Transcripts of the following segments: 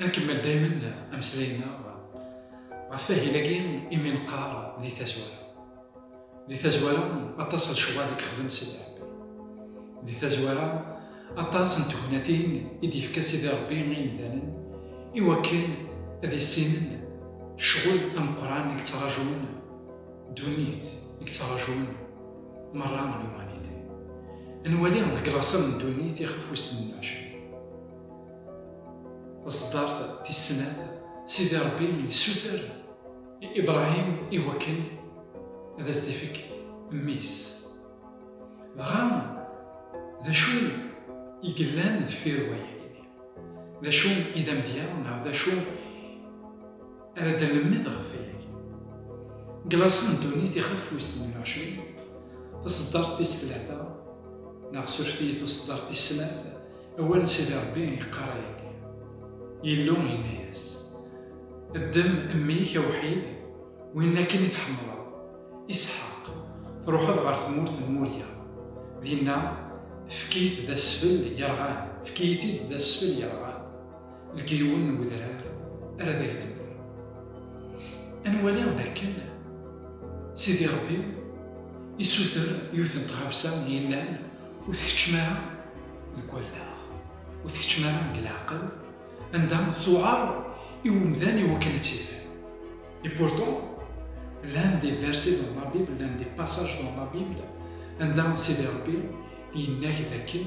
Ad nkemmel daymen ameslay-nneɣ ɣef wahil-agi imi neqqar di tazwara. Di tazwara aṭas n lecɣal i yexdem Sidi Rebbi. Di tazwara aṭas n tegnatin i d-yefka Sidi Rebbi i yimdanen i wakken ad issinen ccɣel ameqqran i yettraǧun ddunit, i yettraǧun merra l'humanité. Ad nwali deg laṣel n ddunit ixef wis tmenna u εecrin. Taṣeddart tis snat, Sidi Ṛebbi yessuter i Ibṛahim i wakken ad as-d-ifek mmi-s. Dɣa, d acu i yellan deffir wayagi? D acu i d amedya neɣ d acu ara d-nemmed ɣef wayagi? Deg laṣel n ddunit ixef wis tnin u ɛecrin, taṣeddart tis tlata, neɣ suref-iyi taṣeddart tis snat, Awal n Sidi Ṛebbi yeqqar ayagi, Illu yenna-yas, Ddem mmi-k awḥid, win akken i tḥemmleḍ, Isḥaq, truḥeḍ ɣer tmurt n Murya, dinna efk-it d asfel yerɣan, efk-iyi-t-id d asfel yerɣan. deg yiwen n wedrar ara d ak-d-nniɣ. Ad nwali d akken Sidi Ṛebbi isuter yiwet n tɣawsa yellan ur tkeččem ara deg wallaɣ, ur tkeččem ara deg leɛqel, anda tewɛeṛ i umdan iwakken ad tt-ifen. Et pourtant, llan des versets dans la Bible, llan des passages dans la Bible, anda Sidi Ṛebbi yenna-ak d akken,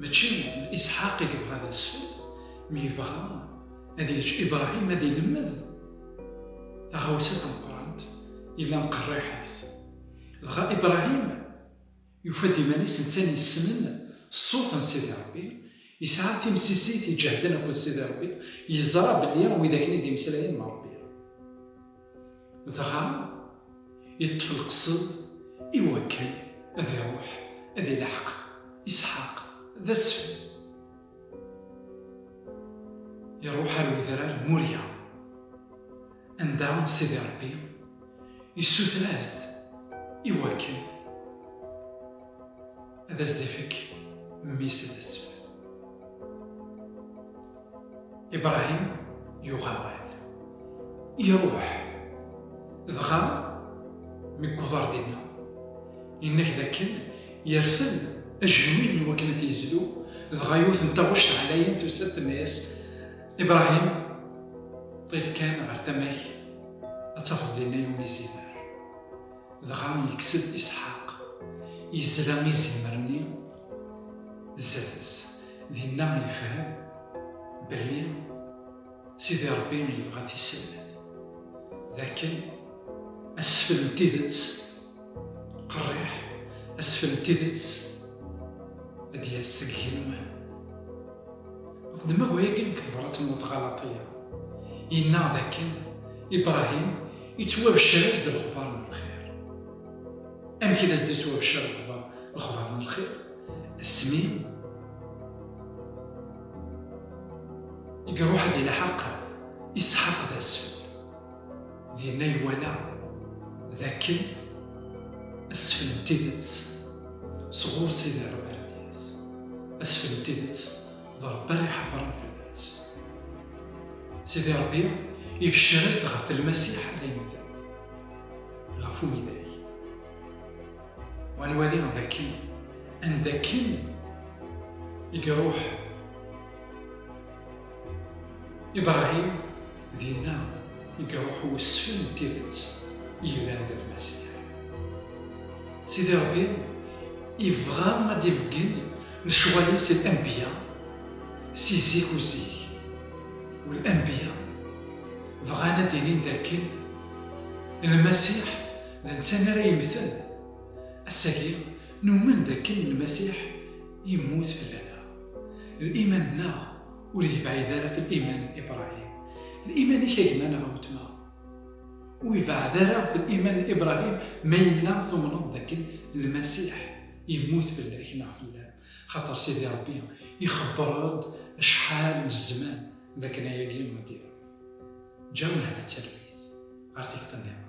Mačči d Isḥaq i yebɣa ad isfel, mi yebɣa ad yeǧǧ Ibṛahim ad ilemmed taɣawsa tameqqrant, yellan qerriḥit. Dɣa Ibṛahim yufa-d iman-is netta-n yessnen ṣṣut n Sidi Ṛebbi, yesɛa timsizziyt iǧehden akked Sidi Ṛebbi, yeẓra belli widak-nni d imeslayen n Ṛebbi. Dɣa yeṭṭef lqesed i wakken ad iruḥ ad ileḥq Isḥaq d asfel. Iruḥ ar wedrar n Murya, anda Sidi Ṛebbi issuter-as-d i wakken ad as-d-ifek mmi-s d asfel. Ibrahim yuɣ awal, iruḥ, dɣa mi yewweḍ ɣer dinna, yenna-k d akken yerfed ajenwi n wakken ad yezlu, dɣa yiwet n taɣect ɛlayen tusa-d tenna-yas, Ibrahim, ṭil kan ɣer tama-k, ad tafeḍ dinna yiwen izimer. Dɣa yekkes-d Isḥaq, yezla izimer-nni Zzat-s, dinna yefhem belli Sidi Ṛebbi yebɣa tisellet, d akken asfel n tidet qerriḥ, asfel n tidet ad d-yas seg yigenwan. Ɣef ddemma wayagi deg tebrat n Lexalaṭiya, yenna d akken Ibṛahim ittwabeccer-as-d lexbaṛ n lxir. amek i d as-d-yeswa Bcir lexbar lexbar n lxir asmi i iruḥ ad ilḥaq Isḥaq d asfel dinna iwala d akken asfel n tidet sɣur Sidi Rebbi ara d-yas asfel n tidet d Rebbi ara iḥebbren fell-as Sidi Rebbi ibeccer-as-d ɣef Lmasiḥ ara yemten ɣef umidag. Wa nwali d akken anda akken i iruḥ Ibrahim dinna i iruḥ wesfel n tidet yellan d Lmasiḥ. Sidi Ṛebbi ibɣa ad d-ibeggen lecɣal-is i lanbiya si zik u zik. U lanbiya bɣan ad d-inin d akken Lmasiḥ d netta mi ara yemmten. Ass-agi, numen d akken Lmasiḥ yemmut fell-aneɣ. Liman-nneɣ ur yebɛid ara f liman n Ibṛahim. Liman-ik a gma neɣ a wetma ur ibeɛɛed ara f liman n Ibṛahim ma yella tumneḍ d akken Lmasiḥ yemmut fell-ak neɣ fell-am. Xaṭer Sidi Ṛebbi ixebbeṛ-ed acḥal n zzman d akken ayagi ad d-iṛu. Ǧǧa lehna d talwit ɣer tikḍi nniḍen.